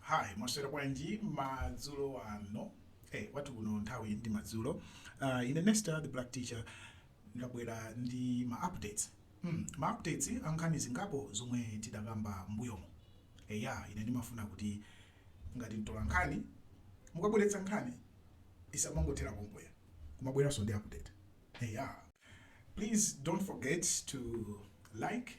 Hi, mwaswera bwanji madzulo ano? Hey, kwathu kuno nthawi ndi madzulo. Uh, ine Nesta the Black Teacher ndabwera ndi ma updates. Mm, ma updates a nkhani zingapo zomwe tidakamba mbuyomo. Eya, ine ndimafuna kuti ngati mtola nkhani mukabweretsa nkhani isamangothera pompaja kumabweranso ndi update. Eya, please don't forget to like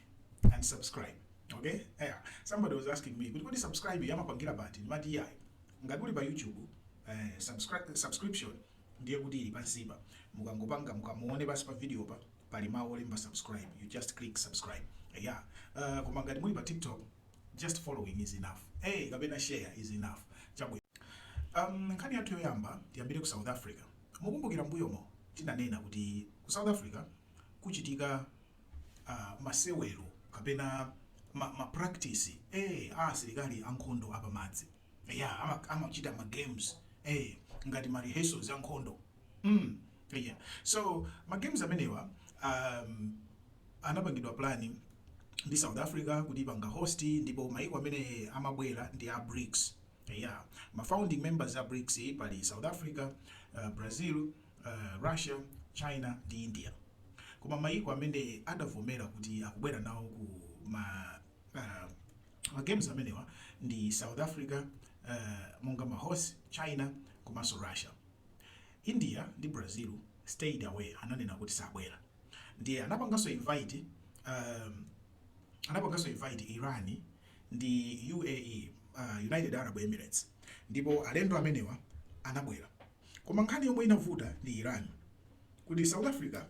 and subscribe. Okay? Eya, somebody was asking me, kuti kodi subscribe timapangira pati? Ndiye ndati iyayi. Ngati uli pa YouTube, eh, subscri- subscription ndiye kuti ili pansipa. Mukangopanga mukamaona pansi pa video pa pali mawu olemba subscribe. You just click subscribe. Eya. Uh, koma ngati muli pa TikTok, just following is enough. Eh, kapena share is enough. Chabwino. Um, nkhani yathu yoyamba tiyambire ku South Africa. Mukumbukira mmbuyomo tinanena kuti ku south africa kukuchitika masewera kapena ma ma practice ee a asilikali ankhondo apamadzi eya ama amachita ma games ee ngati ma rehearsals ankhondo mm eya so ma games amenewa ahm anapangidwa plan ndi south africa kuti ipanga host ndipo mayiko amene amabwera ndi a Brics Eya, ma founding members a Brics pali South Africa, Brazil, Russia, China ndi India. Koma mayiko amene adavomera kuti akubwera nawo ku ma games amenewa ndi South Africa monga ma host, China komanso Russia. India ndi Brazil stayed away, ananena kuti sabwera. Ndiye anapanganso invite Iran ndi UAE, United Arab Emirates, ndipo alendo amenewa anabwera. Koma nkhani yomwe inavuta ndi Iran kuti South Africa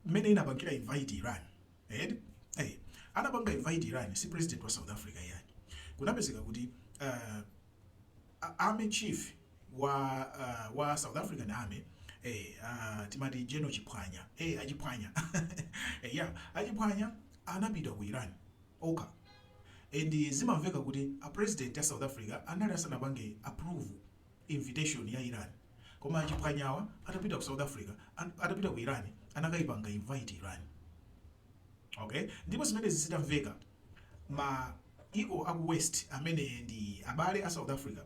mmene inapangira invite Iran, eti eh, anapanga invite Iran si president wa South Africa iyayi. Kunapezeka kuti uh, army chief wa uh, wa South African army eh, uh, timati General Chiphwanya eh, a Chiphwanya eh, yeah, a Chiphwanya anapita ku Iran okha and zimamveka kuti a president a south africa anali asanapange approve invitation ya iran koma a Chiphwanyawa atapita ku south africa atapita ku iran anakaipanga invite iran ok ndipo zimenezi zitamveka mayiko aku west amene ndi abale a south africa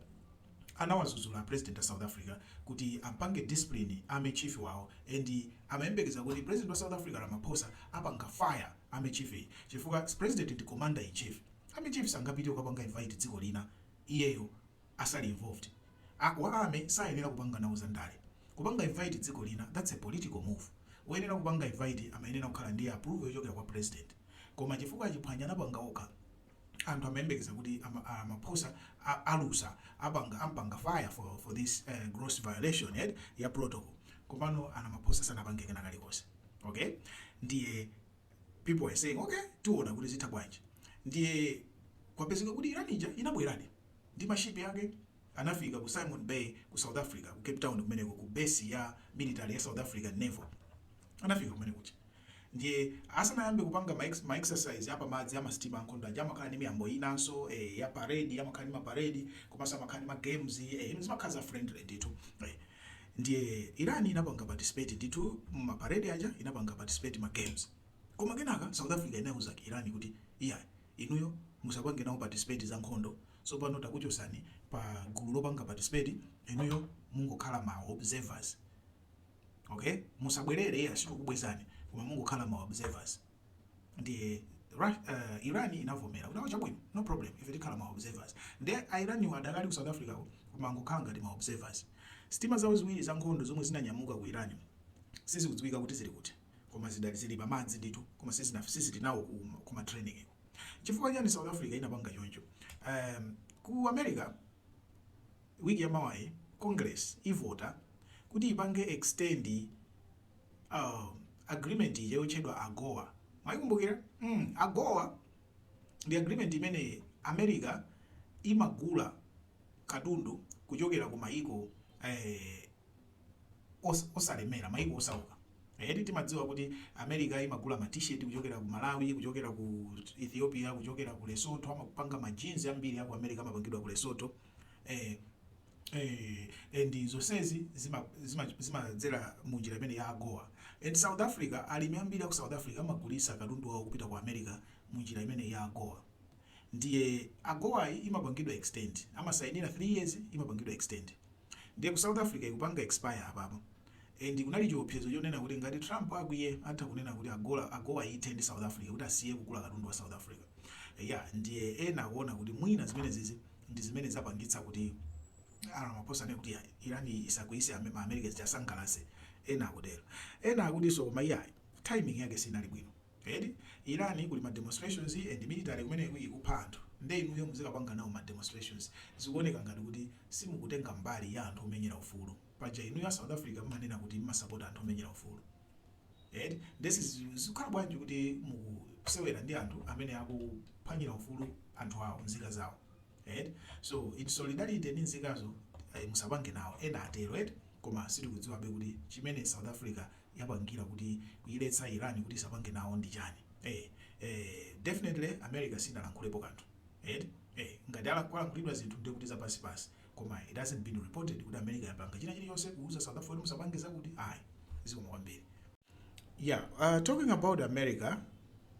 anawazuzula a president a south africa kuti ampange discipline army chief wawo and amayembekeza kuti president wa south africa ramaphosa apanga fire Army chief chifukwa president ndi commander in chief army chief sangapite kukapanga invite dziko lina iyeyo asali involved a wa army sayenera kupanga nawo zandale kupanga invite dziko lina that's a political move woyenera kupanga invite amayenera kukhala ndi approval yochokera kwa president koma chifukwa a Chiphwanya anapanga okha anthu amayembekeza kuti ama, a, Ramaphosa a, alusa apanga ampanga fire for, for this uh, gross violation yet ya protocol komano a Ramaphosa sanapange kena kalikonse okay ndiye people are saying okay tiona kuti zitha bwanji ndiye kwapezeka kuti Iran ija inabweradi ndi mashipi ake anafika ku Simon Bay ku South Africa ku Cape Town kumeneko ku base ya military ya South African Naval anafika kumene kuja ndiye asanayambe kupanga ma, ex, ma exercise apa madzi ama sitima ankhondo aja amakhala ndi miyambo inanso eh, ya parade amakhala ndi ma parade komanso amakhala ndi ma games eh, ino zimakhala za friendly ndithu eh. ndiye Iran inapanga participate ndithu ma parade aja inapanga participate ma games koma kenaka South Africa inauza Iran kuti iyayi inuyo musapange nawo participate za nkhondo Tsopano takuchosani pa gulu lopanga participate inuyo mungokhala ma observers ok musabwerere iyayi sitikukubwezani koma mungokhala ma observers ndiye Ra, uh, Iran inavomera kuti chabwino no problem ife tikhala ma observers ndiye Iraniwo adakali ku South Africa ko koma angokhala ngati ma observers sitima zawo ziwiri za nkhondo zomwe zinanyamuka ku Iran sizikudziwika kuti zili kuti koma zidali zili pa madzi ndithu koma sizina sizili nawo ku, ku ma training ko Chifukwa chiyani south Africa inapanga choncho? Emm ku America week ya mawayi congress ivota kuti ipange extend emm agreement ija yotchedwa agoa mwaikumbukira? Emm agoa ndi agreement imene America imagula katundu kuchokera ku mayiko eeh. osalemera, maiko osauka. Eti timadziwa kuti America imagula ma T-shirt kuchokera ku Malawi, kuchokera ku Ethiopia, kuchokera ku Lesotho, amapanga ma jeans ambiri aku America amapangidwa ku Lesotho. Eh, eh, and zonsezi zimadzera zima, zima mu njira imeneyi ya AGOA. And South Africa, alimi ambiri aku South Africa amagulitsa katundu wawo kupita ku America mu njira imeneyi ya AGOA. Ndiye AGOAyi imapangidwa extend, amasainira 3 years imapangidwa extend. Ndiye ku South Africa ikupanga expire apapa. And kunali chiopsezo chonena kuti ngati Trump akwiye atha kunena kuti agola, AGOA ithe ndi South Africa kuti asiye kugula katundu wa South Africa. Eya, ndiye ena akuona kuti mwina zimenezizi ndi zimene zapangitsa kuti a Ramaphosa anene kuti iyayi, Iranyi isakwiyise Ame, ma Americans tiasangalatse, ena akutero. Ena akutinso koma iyayi, timing yake sinali bwino. Eti Iran kuli ma demonstrations and military kumeneko ikupha anthu nde inuyo muzikapanga nawo ma demonstrations? Zikuoneka ngati kuti simukutenga mbali ya anthu omenyera ufulu. Paja inuyo a South Africa mumanena kuti mumasapota anthu omenyera ufulu eti? Nde zikukhala bwanji kuti mukusewera ndi anthu amene akuphwanyira ufulu anthu awo, nzika zawo eti? So in solidarity ndi nzikazo ayi musapange nawo, ena atero eti? Koma sitikudziwabe kuti chimene South Africa yapangira kuti kuiletsa Iran kuti isapange nawo ndi chani eh eh definitely America sinalankhulepo kanthu eti eh ngati ala kwalankhulidwa zinthu ndiye kuti zapansi pansi koma it hasn't been reported kuti America yapanga china chili chonse kuuza South Africa kuti musapange zakuti ayi zikomo kwambiri. Yeah, uh, talking about America,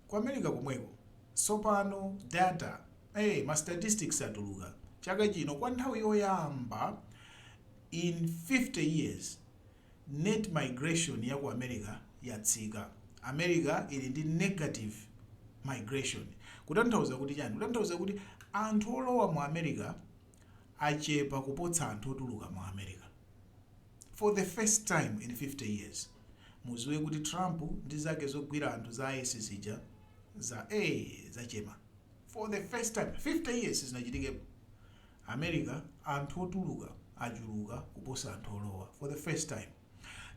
ku America komweko tsopano data eh ma statistics atuluka chaka chino kwa nthawi yoyamba in 50 years Net migration ya ku America yatsika. America ili ndi negative migration. Kutanthauza kuti chani? Kutanthauza kuti anthu olowa mu America achepa kuposa anthu otuluka mu America. For the first time in 50 years. Muziwe kuti Trump ndi zake zogwira anthu za ICE zija za ee zachema. For the first time 50 years sizinachitikepo. America anthu otuluka achuluka kuposa anthu olowa for the first time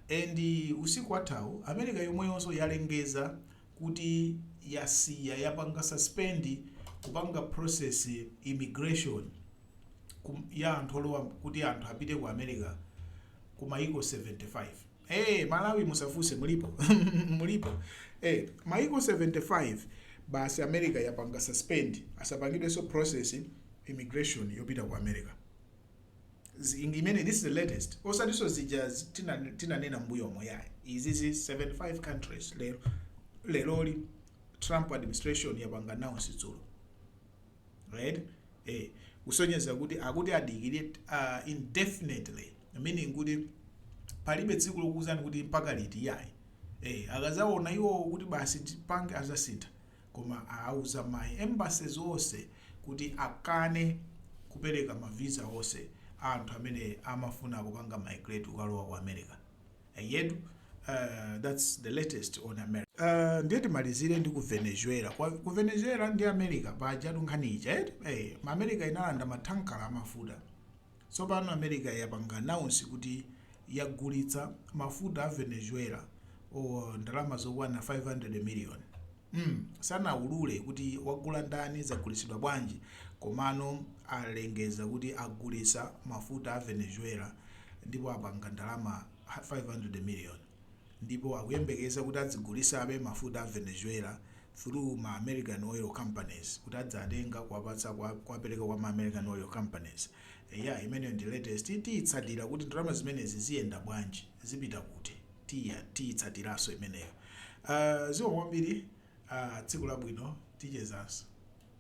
and usiku wathawu America yomweyonso yalengeza kuti yasiya yapanga suspend kupanga process immigration ya anthu olowa kuti anthu apite ku America ku mayiko 75. Eee Malawi musafuse mulipo mulipo ee maiko 75 basi America yapanga suspend asapangidweso process immigration yopita ku America imeneyi this is the latest osatiso zija tinanena mbuyomo yayi izizi 75 countries leroli Trump administration yapanga announce dzulo. right e kusonyeza kuti akuti adikire uh, indefinitely meaning kuti palibe tsiku lokuuzani kuti mpaka liti yayi e akazaona iwowo kuti basi tipange azasintha koma awauza ma embassies onse kuti akane kupereka mavisa onse a anthu amene amafuna kupanga migrate kukalowa ku america Eyetu that's the latest on America. Uh, ndiye timalizire ndi ku Venezuela. Kwa, ku Venezuela ndi America pajatu nkhani ija eti eh, ma America inalanda mathankala a mafuta. Tsopano America yapanga announce kuti yagulitsa mafuta a Venezuela o ndalama zokwana 500 million. mm sanaulule kuti wagula ndani zagulitsidwa bwanji komano alengeza kuti agulitsa mafuta a venezuela ndipo apanga ndalama 500 million ndipo akuyembekeza kuti adzigulitsabe mafuta a venezuela through ma american oil companies kuti adzatenga kuwapatsa kuwapereka kwa ma american oil companies eya imeneyo ndi latest tiyitsatira kuti ndalama zimenezi ziyenda bwanji zipita kuti tiyitsatiranso imeneyo. Aaa zikomo kwambiri aaa tsiku labwino tichezanso.